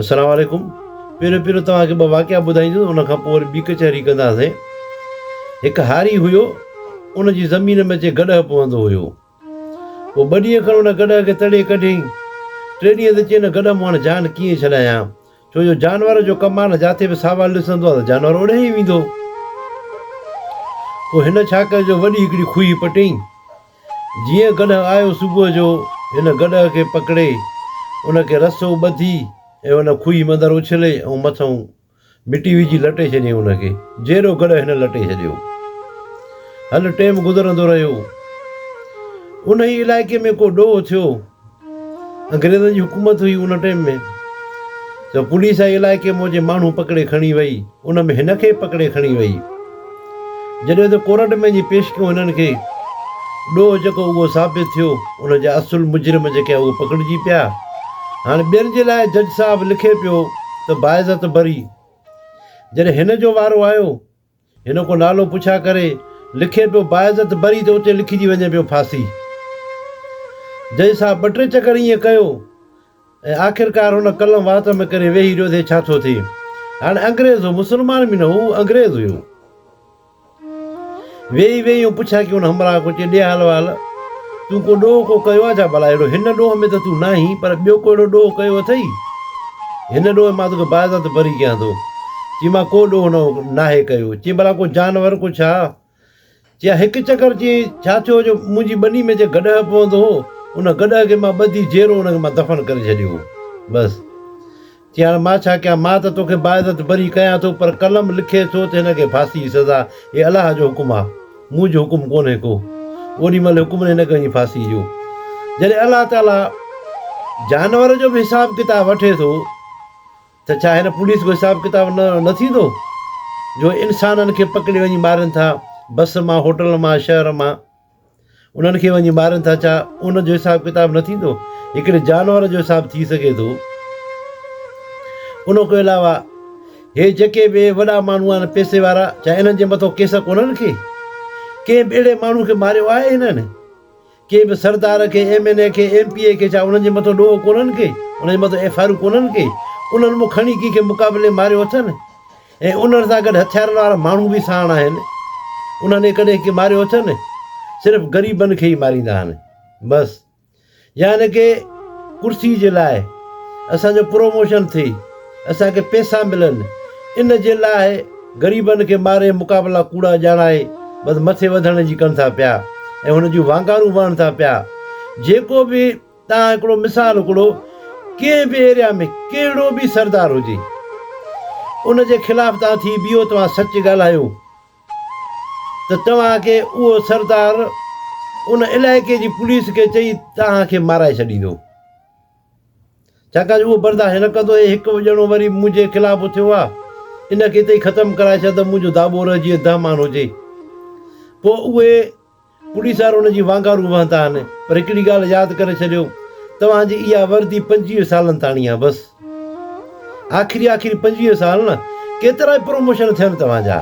السلام عليڪم پهريون پهريون توهان کي ٻه واقعا ٻڌائيندس ان کان پوء وري ٻي ڪچهري ڪنداسين هڪ هاري هيو ان جي زمين ۾ اچي گڏهه پوندو هيو پوء ٻه ڏينهن کن ان گڏهه کي تڙي ڪڍيائين ٽي ڏينهن تي چيائين گڏهه مون هاڻي جان ڪيئن ڇڏايان ڇو جو جانور جو ڪم آهي نه جاٿي به ساوال ڏسندو آهي ته جانور اوڏي ئي ويندو پوء هن ڇا ڪيو جو وڏي هڪڙي کوهي پٽيائين جيئن گڏهه آيو صبح جو هن گڏهه کي پڪڙي ان کي رسو ٻڌي ۽ ان کوهي مندر اڇلي ۽ مٿئون مٽي وجهي لٽي ڇڏيائين ان کي جهڙو گڏهه هن لٽي ڇڏيو هل ٽيم گذرندو رهيو انهي علائقي ۾ ڪو ڏوهه ٿيو. انگريزن جي حڪومت هئي ان ٽيم ۾ ته پوليس آئي علائقي مون جي ماڻهو پڪڙي کڻي وئي ان ۾ هن کي پڪڙي کڻي وئي جڏهن ته ڪورٽ ۾ وڃي پيش ڪيو هنن کي ڏوهه جيڪو اهو ثابت ٿيو ان جا اصل مجرم جيڪي آهي اهو پڪڙجي پيا هاڻي ٻين جي لاء جج صاحب لکي پيو ته باعزت بري جڏهن هن جو وارو آيو هن ڪو نالو پڇا ڪري لکي پيو باعزت بري ته اتي لکجي وڃي پيو ڦاسي. جج صاحب ٻه ٽي چڪر ائين ڪيو ۽ آخرڪار هن قلم وات ۾ ڪري ويهي رهيو ته ڇا ٿو ٿئي. هاڻي انگريز هو مسلمان به نه هو، هو انگريز هيو. ويهي ويهي ائين پڇا ڪيون همراهه ڪو چئي ڏي حال وحال. تون ڪو ڏوهه ڪو ڪيو آهي ڇا ڀلا؟ اهڙو هن ڏوهه ۾ ته تون ناهين، پر ٻيو ڪو اهڙو ڏوهه ڪيو اٿئي؟ هن ڏوهه ۾ مان توکي باعزت بري ڪيان ٿو. چيائين، مان ڪو ڏوهه نه ناهي ڪيو. چيائين، ڀلا ڪو جانور ڪو ڇا؟ چيائين، هڪ چڪر چيائين ڇا ٿيو جو منهنجي ٻني ۾ جيڪو گڏهه پوندو هو، ان گڏهه کي مان ٻڌي جيرو ان کي مان دفن ڪري ڇڏيو هو. بس! چي هاڻ مان ڇا ڪيان؟ مان ته توکي باعزت بري ڪيان ٿو، پر قلم لکي ٿو ته هن کي ڦاسي جي سزا. هي الله جو حڪم آهي، منهنجو حڪم ڪونهي ڪو. اوڏي مهل حڪم ڏني ته هن کي ڦاسي ڏيو. جڏهن الله تعاليٰ جانور جو به حساب ڪتاب وٺي ٿو ته ڇا هن پوليس جو حساب ڪتاب نه ٿيندو جو انسانن کي پڪڙي وڃي مارين ٿا، بس مان، هوٽل مان، شهر مان. انهن کي وڃي مارين ٿا ڇا؟ ان جو حساب ڪتاب نه ٿيندو؟ هڪڙي جانور جو حساب ٿي سگهي ٿو؟ ان کان علاوه هي جيڪي به وڏا ماڻهو آهن پئسي وارا ڇا انهن جي مٿو ڪيس ڪونهن ڪي؟ ڪنهن به اهڙي ماڻهو کي ماريو آهي هنن؟ ڪنهن به سردار کي ايم اين اي کي ايم پي اي کي ڇا انهن جي مٿو ڏوهه ڪونهن ڪي؟ انهن جي مٿو ايف آر يون ڪونهن ڪي؟ انهن مون کڻي ڪي کي مقابلي ماريو اٿن؟ ۽ انهن سان گڏ هٿيارن وارا ماڻهو به ساڻ آهن، انهن کي ڪڏهن ڪي ماريو اٿن؟ صرف غريبن کي ئي ماريندا آهن بس. يا هن کي ڪرسي جي لاء اسان جو پروموشن ٿئي، اسان کي پيسا ملن، ان جي لاء غريبن کي ماري مقابلا ڪوڙا ڄاڻائي بس مٿي وڌڻ جي ڪن ٿا پيا ۽ هن جون وانگارون وهن ٿا پيا. جيڪو به تان هڪڙو مثال هڪڙو ڪنهن به ايريا ۾ ڪهڙو به سردار هجي ان جي خلاف تان ٿي بيهو توهان سچ ڳالهايو ته توهان کي اهو سردار ان علائقي جي پوليس کي چئي توهان کي مارائي ڇڏيندو ڇاڪاڻ جو اهو برداشت نه ڪندو هي هڪ ڄڻو وري منهنجي خلاف اٿيو آ ان کي اتي ئي ختم ڪرائي ڇڏ ته منهنجو داٻو رهجي دهمان هجي پوء اهي ڪڏهن سار ان جي وانگارون وهندا آهن پر هڪڙي ڳالهه ياد ڪري ڇڏيو توهان جي اها وردي پنجويهه سالن تاڻي آهي بس آخري آخري پنجويهه سال نه ڪيترا ئي پروموشن ٿين توهان جا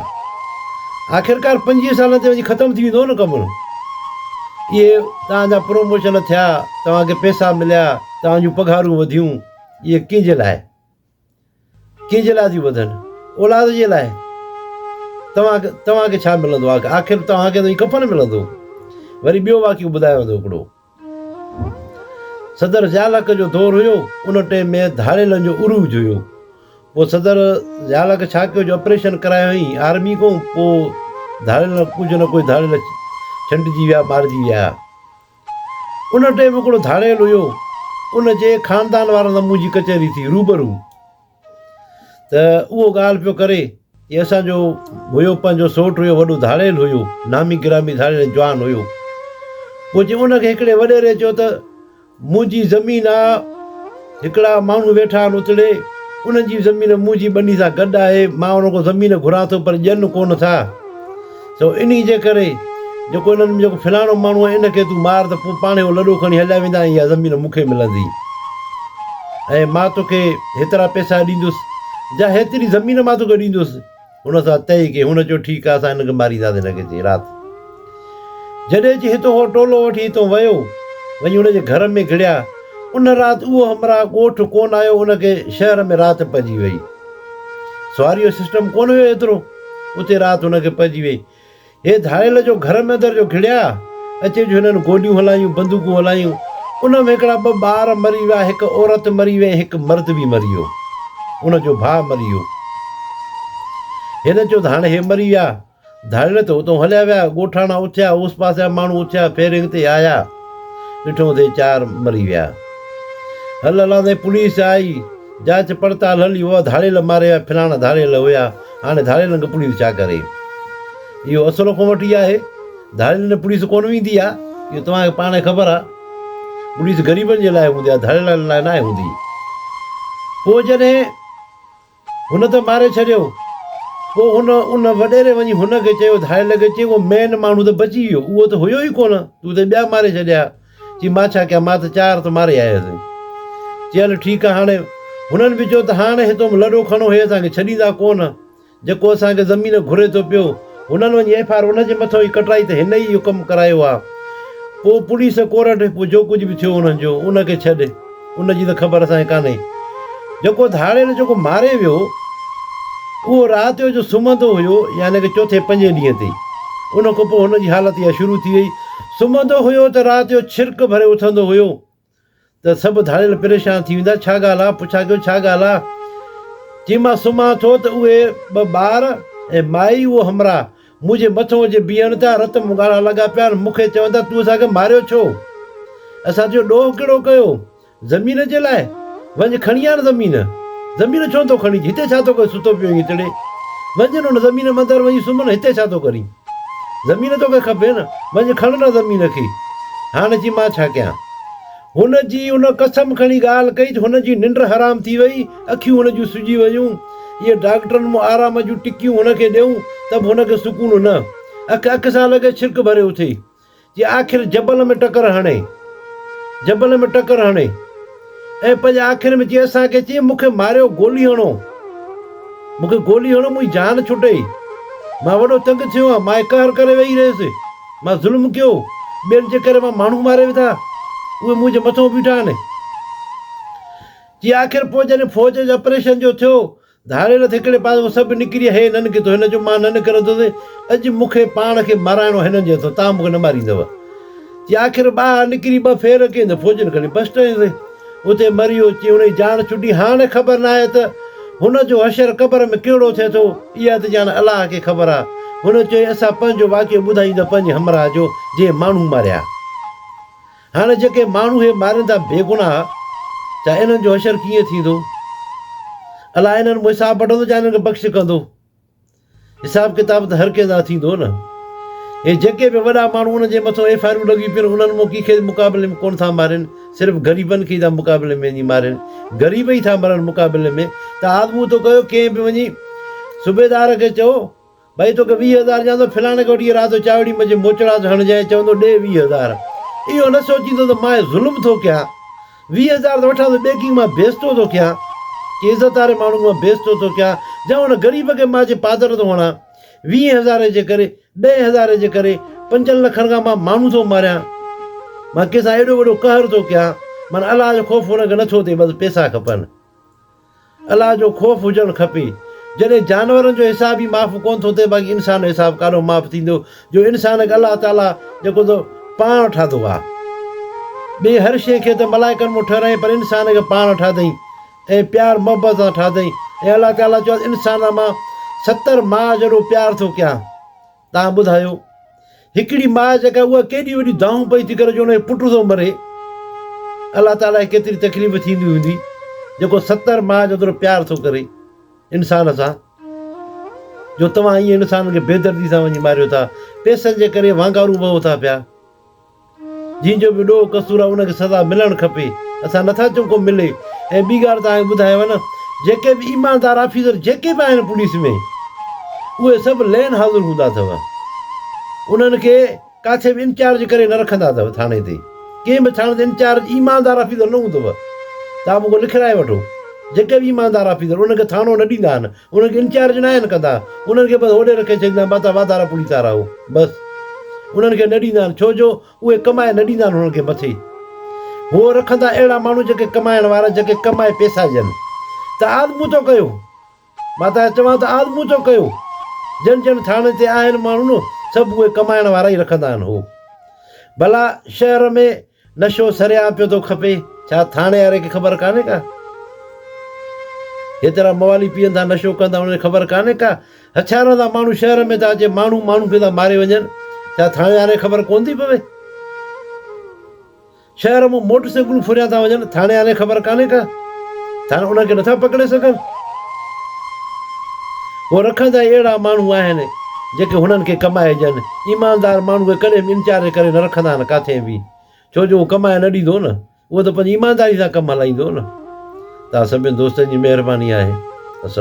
آخرڪار پنجويهه سالن تي وڃي ختم ٿي ويندو نه ڪم اهي توهان جا پروموشن ٿيا توهان کي پئسا مليا توهان جون پگهارون وڌيون اهي ڪنهن جي لاء ڪنهن جي لاء ٿيون ٻڌن؟ اولاد جي لاء. توهان توهان کي ڇا ملندو آخر؟ آخر توهان کي ته هي ڪفن ملندو. وري ٻيو واقعو ٻڌايو ويندو هڪڙو. صدر ضياء الحق جو دور هيو، ان ٽيم ۾ ڌاڙيلن جو عروج هيو. پوء صدر ضياء الحق ڇا ڪيو جو آپريشن ڪرايو هئائين آرمي کان، پوء ڌاڙيل ڪجهه نه ڪجهه ڌاڙيل ڇنڊجي ويا، مارجي ويا. ان ٽيم هڪڙو ڌاڙيل هيو، ان جي خاندان وارن سان منهنجي ڪچهري ٿي روبرو ته اهو ڳالهه پيو ڪري جي اسان جو هيو پنهنجو سوٽ هيو وڏو ڌاڙيل هيو، نامي گرامي ڌاڙيل ۽ جوان هيو. پوء جي ان کي هڪڙي وڏيري چيو ته منهنجي زمين آ، هڪڙا ماڻهو ويٺا آهن اتڙي، انهن جي زمين مون جي ٻني سان گڏ آهي، مان انهن کان زمين گهران ٿو پر ڏين ڪو نه ٿا. سو انهي جي ڪري جيڪو انهن ۾ جيڪو فلاڻو ماڻهو آهي ان کي تون مار ته پوء پاڻهي اهو لڏو کڻي هليا ويندا ۽ اها زمين مون کي ملندي ۽ مان توکي هيترا پئسا ڏيندس جا هيتري زمين مان توکي ڏيندس. هن سان طئي ڪئي. هن چيو، ٺيڪ آهي، اسان هن کي مارينداسين هن کي چئي رات جڏهن چي هتو هو ٽولو وٺي هتو ويو وڃي هن جي گهر ۾ گهڙيا. ان رات اهو همراهه ڳوٺ ڪونه آيو ان کي شهر ۾ رات پئجي وئي. سواريء جو سسٽم ڪونه هيو ايترو اتي رات هن کي پئجي وئي. هي ڌاڙيل جو گهر ۾ اندر جو گهڙيا اچي جو هنن گوليون هلايون بندوقون هلايون ان ۾ هڪڙا ٻه ٻار مري ويا هڪ عورت مري وئي ۽ هڪ مرد به مري ويو ان جو ڀاء مري ويو هن چيو ته هاڻي هي مري ويا ڌاڙيل ته اتون هليا ويا ڳوٺاڻا اٿيا اوس پاسي جا ماڻهو اٿيا فيرنگ تي آيا ڏٺو ته چار مري ويا هل هلان تائين پوليس آئي جاچ پڙتال هلي اها ڌاڙيل ماري ويا فلاڻا ڌاڙيل هيا هاڻي ڌاڙيلن کي پوليس ڇا ڪري؟ اهو اصل حڪم وٽ ئي آهي. ڌاڙيلن ڏي پوليس ڪونه ويندي آهي، اهو توهان کي پاڻ خبر آهي. پوليس غريبن جي لاء هوندي آهي، ڌاڙيلن لاء ناهي هوندي. پوء جڏهن هن ته ماري ڇڏيو، پوء هن ان وڏيري وڃي هن کي چيو، ڌاڙيل کي چئي، اهو مين ماڻهو ته بچي ويو، اهو ته هيو ئي ڪونه، تون ته ٻيا ماري ڇڏيا. چي مان ڇا ڪيان، مان ته چار ته ماري آيو هيس. چي هل ٺيڪ آ هاڻي. هنن به چيو ته هاڻ هتئون لڏو کڻو هي اسان کي ڇڏيندا ڪو نه. جيڪو اسان کي زمين گهري ٿو پيو، هنن وڃي ايف آر ان جي مٿئون ئي ڪٽرائي ته هن ئي اهو ڪم ڪرايو آ. پوء پوليس ڪورٽ، پوء جو ڪجهه به ٿيو هنن جو، ان کي ڇڏ. ان جي ته خبر اسان کي ڪانهي. جيڪو ڌاڙيل جيڪو ماري ويو اهو رات جو جو سمهندو هيو يعني ڪه چوٿين پنجين ڏينهن تي ان کان پوء هن جي حالت اها شروع ٿي وئي سمهندو هيو ته رات جو ڇرڪ ڀري اٿندو هيو ته سڀ ڌاڙيل پريشان ٿي ويندا ڇا ڳالهه آ پڇا ڪيو ڇا ڳالهه آ چيمانس سمهان ٿو ته اهي ٻه ٻار ۽ مائي اهو همراهه مون جي مٿو اچي بيهڻ تان رت مون ڳاڙهڻ لڳا پيا ۽ مون کي چون ٿا تون اسان کي ماريو ڇو؟ اسان تنهنجو ڏوهه ڪهڙو ڪيو؟ زمين جي لاء؟ وڃ کڻي آڻ زمين. زمين ڇو نٿو کڻين؟ هتي ڇا ٿو ڪرين ستو پيو آهين اتڙي؟ وڃ نه ان زمين ۾ اندر وڃي سمهه نه هتي ڇا ٿو ڪرين؟ زمين توکي کپي نه؟ وڃ کڻ نه زمين کي. هاڻ چي مان ڇا ڪيان؟ هن جي ان قسم کڻي ڳالهه ڪئي جو هن جي ننڊ حرام ٿي وئي، اکيون هن جون سجي ويون. اهي ڊاڪٽرن مون آرام جون ٽڪيون هن کي ڏيئون ته به هن کي سڪون نه. اک اک سان لڳي ڇرڪ ڀري اٿي. جي آخر جبل ۾ ٽڪر هڻي. جبل ۾ ٽڪر هڻي. ۽ پنهنجي آکين ۾ چئي اسان کي چئي مون کي ماريو گولي هڻو. مون کي گولي هڻو منهنجي جان ڇٽي. مان وڏو تنگ ٿيو آهيان. مان قهر ڪري ويهي رهيس. مان ظلم ڪيو، ٻين جي ڪري مان ماڻهو ماري وڌا، اهي منهنجي مٿان بيٺا آهن. چي آخر پوء جڏهن فوج جي آپريشن جو ٿيو، ڌاڙيل ٿي هڪڙي پاسي هو سڀ نڪري اهي هنن ڪيو ته هن چيو مان نه نڪرندس، اڄ مون کي پاڻ کي مارائڻو آهي هنن جي هٿان، توهان مون کي نه ماريندؤ. چي آخر ٻاهر نڪري ٻه ڦير ڪيائين ته فوجين کڻي بسٽ هنيس. اتي مري اچي انهي جان ڇٽي هاڻ خبر ناهي ته هن جو حشر قبر ۾ ڪهڙو ٿئي ٿو اها ته ڄاڻ الله کي خبر آ هن چيو اسان پنهنجو واقعو ٻڌايون ته پنهنجي همراهه جو جنهن ماڻهو ماريا هاڻ جيڪي ماڻهو هي مارين ٿا بيگناهه ڇا انهن جو حشر ڪيئن ٿيندو الله انهن مون حساب وٺندو جا انهن کي بخش ڪندو. حساب ڪتاب ته هر ڪنهن سان ٿيندو نه. اهي جيڪي به وڏا ماڻهو ان جي مٿو ايف آء آرون لڳيون پيون انهن مون ڪي کي مقابلي ۾ ڪونه ٿا مارين صرف غريبن کي ئي ٿا مقابلي ۾ وڃي مارين غريب ئي ٿا مرن مقابلي ۾ ته آزمون ٿو ڪيو ڪنهن به وڃي صوبيدار کي چئو ڀئي توکي ويهه هزار ڏيان ٿو فلاڻي کي وٺي اهي رات جو چاوڙي مجي موچڙاس هڻجانء چوندو ڏي ويهه هزار اهو نه سوچيندو ته ماء ظلم ٿو ڪيان. ويهه هزار ٿو وٺان ته ٻيڪنگ مان بيستو ٿو ڪيان، ڪنهن عزت واري ماڻهوء مان بيستو ٿو ڪيان يا ان غريب کي مان اچي پادر ٿو هڻان. ويهين هزارين جي ڪري، ڏهين هزارين جي ڪري، پنجن لکن کان مان ماڻهو ٿو ماريان. مان ڪنهن سان ايڏو وڏو قهر ٿو ڪيان. معنيٰ الله جو خوف هن کي نه ٿو اٿي، بس پيسا کپن. الله جو خوف هجڻ کپي. جڏهن جانورن جو حساب ئي معاف ڪونه ٿو ٿئي باقي انسان جو حساب ڪاڏو معاف ٿيندو جو انسان کي الله تعاليٰ جيڪو ته پاڻ ٺاهيو آهي. ٻي هر شيء کي ته ملائڪن مون ٺهرايائين پر انسان کي پاڻ ٺاهيائين ۽ پيار محبت سان ٺاهيائين ۽ الله تعاليٰ چيو آهي ته انسانن مان ستر ماء جيڏو پيار ٿو ڪيان. تان ٻڌايو هڪڙي ماء جيڪا اها ڪيڏي وڏي دانهون پئي ٿي ڪري جو ان جو پٽ ٿو مري الله تعالي کي ڪيتري تڪليف ٿيندي هوندي جيڪو ستر ماء جو ايترو پيار ٿو ڪري انسان سان جو توهان ائين انسان کي بيدردي سان وڃي ماريو ٿا پيسن جي ڪري وانگارو بهو ٿا پيا جنهن جو به ڏوهه قصور آهي ان کي سزا ملڻ کپي. اسان نه ٿا چئون ڪو ملي. ۽ ٻي ڳالهه توهان کي ٻڌايو نه جيڪي به ايماندار آفيسر جيڪي به آهن پوليس ۾ اهي سڀ لين حاضر هوندا اٿو. انهن کي ڪاٿي به انچارج ڪري نه رکندا اٿو ٿاڻي تي. ڪنهن به ٿاڻي تي انچارج ايماندار آفيسر نه هوندو. توهان مون کان لکرائي وٺو جيڪي به ايماندار آفيسر انهن کي ٿاڻو نه ڏيندا آهن انهن کي انچارج ناهن ڪندا انهن کي بس هوڏي رکي ڇڏيندا آهن باتا وادارا پوري تا رهو بس انهن کي نه ڏيندا آهن ڇو جو اهي ڪمائي نه ڏيندا آهن انهن کي مٿي هو رکندا اهڙا ماڻهو جيڪي ڪمائڻ وارا جيڪي ڪمائي پيسا ڏين ته آد مون تو ڪيو باتا چوان ته آد مون تو ڪيو جن جن ٿاڻي تي آهن ماڻهو سڀ اهي ڪمائڻ وارا ئي رکندا آهن هو ڀلا شهر ۾ نشو سريعان پيو ٿو کپي. ڇا ٿاڻي واري کي خبر ڪانهي ڪا؟ جيترا موالي پيئن ٿا نشو ڪن ٿا انهن کي خبر ڪانهي ڪا؟ هٿيارن سان ماڻهو شهر ۾ ٿا اچي ماڻهو ماڻهو کي ٿا ماري وڃن ڇا ٿاڻي واري کي خبر ڪونه ٿي پوي؟ شهر مون موٽر سائيڪلون ڦريان ٿا وڃن ٿاڻي واري کي خبر ڪانهي ڪا؟ ٿر ان کي نٿا پڪڙي سگهن. هو رکندا ئي اهڙا ماڻهو آهن، جيڪي هنن کي ڪمائي ڏين. ايماندار ماڻهو اهي ڪڏهن به انتياري ڪري نه رکندا آهن ڪاٿئين به، ڇو جو هو ڪمائي نه ڏيندو نه، اهو ته پنهنجي ايمانداري سان ڪم هلائيندو نه. توهان سڀني دوستن جي مهرباني آهي. السلام.